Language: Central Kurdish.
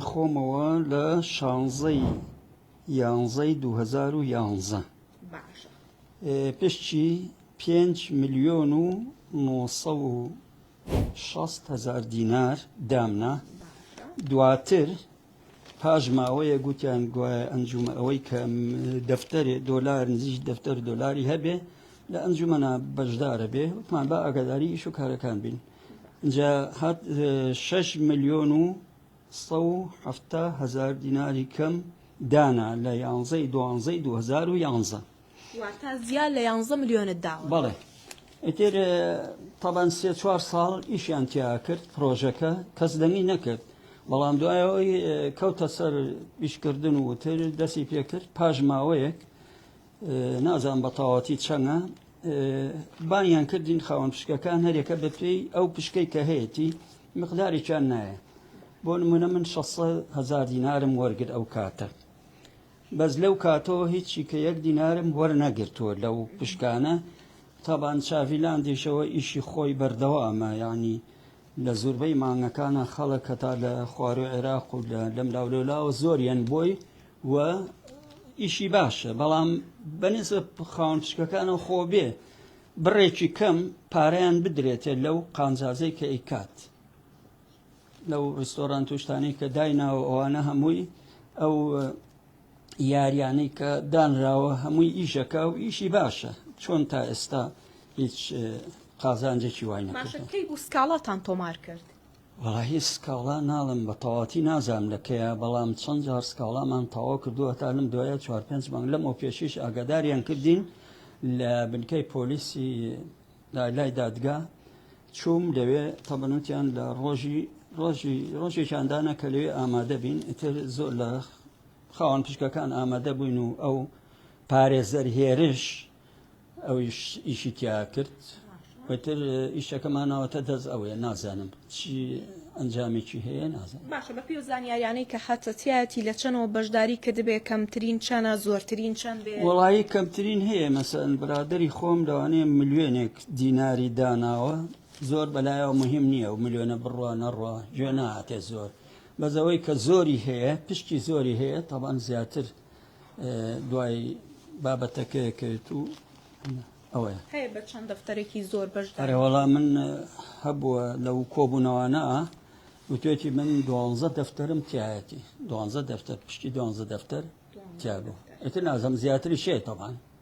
خۆمەوە لە شانزەی یانزەی دوو هەزار و یانزە پشچی پێنج ملیۆن و نۆسە و شەست هەزار دینار دامنا دواتر پاش ماوەیە گوتیان گوایە ئەنجومە ئەوەی کە دەفتەرێ دۆلار نزیک دەفتەر دۆلاری هەبێ لە ئەنجومەە بەشدارە بێ وتمان بە ئاگاداری ئیش و کارەکان بین جا هات شەش ملیۆن و سە و حەفتا هەزار دیناری کەم دانا لە یانزەی دوانزەی دو هەزار و یانزە واتە زیاد لە یانزە ملیۆنت داوە بەڵێ ئیتر تەبەن سێ چوار ساڵ ئیشیان تیا کرد پرۆژەکە کەس دەنگی نەکرد بەڵام دوایەوەی کەوتە سەر ئیشکردن و تر دەستی پێکرد پاش ماوەیەک نازانم بە تەواوەتی چەنە بانیان کردین خاوەن پشکەکان هەرێکە بە پێی ئەو پشکەی کە هەیەی مقدارێکیان نایە بۆ نمونە من 600 هزار دینارم وەرگر ئەو کاتە بەس لەو کاتەوە هیچی کە یەک دینارم وەرنەگرتووە لەو پشکانە تابان چاڤیلاندیشەوە ئیشی خۆی بەردەوامە ینی لە زۆربەی مانگەکانە خەڵک کە تا لە خوارو عێراق و لە لەم لاولەلاوە زۆریان بۆی و ئیشی باشە بەڵام بەنسبە خاون پشکەکانەوە خۆ بێ بڕێکی کەم پارەیان بدرێتێ لەو قانزازەی کە ئیکات لەو ڕستۆران توشتانی کە دایناوە ئەوانە هەمووی ئەو یاریانی کە دانراوە هەمووی ئیشەکە و ئیشی باشە چۆن تا ئێستا هیچ قازانجێکی وای نەکەی بوو سکاڵاتان تۆمار کرد وەڵاهی سکاڵا ناڵێم بە تەواوەتی نازانم لە کەیە بەڵام چەند جار سکاڵامان تەواو کردووە هەتا لەم دوایە چوار پێنج مانگ لەمەو پێشیش ئاگاداریان کردین لە بنکەی پۆلیسی لای دادگا چووم لەوێ تەبەنوتیان لە ڕۆژی ڕۆژی ڕۆژێکیان دانا کە لەوێ ئامادە بین ئیتر زۆر لە خاوەن پشکەکان ئامادە بووین و ئەو پارێزەر هێرش ئەویش ئیشی تیا کرد وتر ئیشەکەمانەوەتە دەست ئەوەیە نازانم چی ئەنجامێکی هەیە نازانم باشە بە پێی و زانیاریانەی کە هەتە تایەتی لە چەنەوە بەشداری کردبێ کەمترین چەنە زۆرترین چەند بێ وەڵایی کەمترین هەیە مەسەن برادری خۆم لەوانەیە ملیۆنێک دیناری داناوە زۆر بەلایەوە مهم نییە و ملیۆنە بڕوا نەڕوا گوێ ناتێ زۆر بەزەوەی کە زۆری هەیە پشتی زۆری هەیە تاوان زیاتر دوای بابەتەکەی کرد و ئەوەیە هەیە بە چەند دەفتەرێکی زۆر بەشدارەوەڵا من هەبووە لەو کۆبوونەوانە وتێتی من دوانزە دەفتەرم تایەتی دوانزە دەفتەر پشتی دوانزە دەفتەر تیاگو ئەتر نازم زیاتری شێتەمان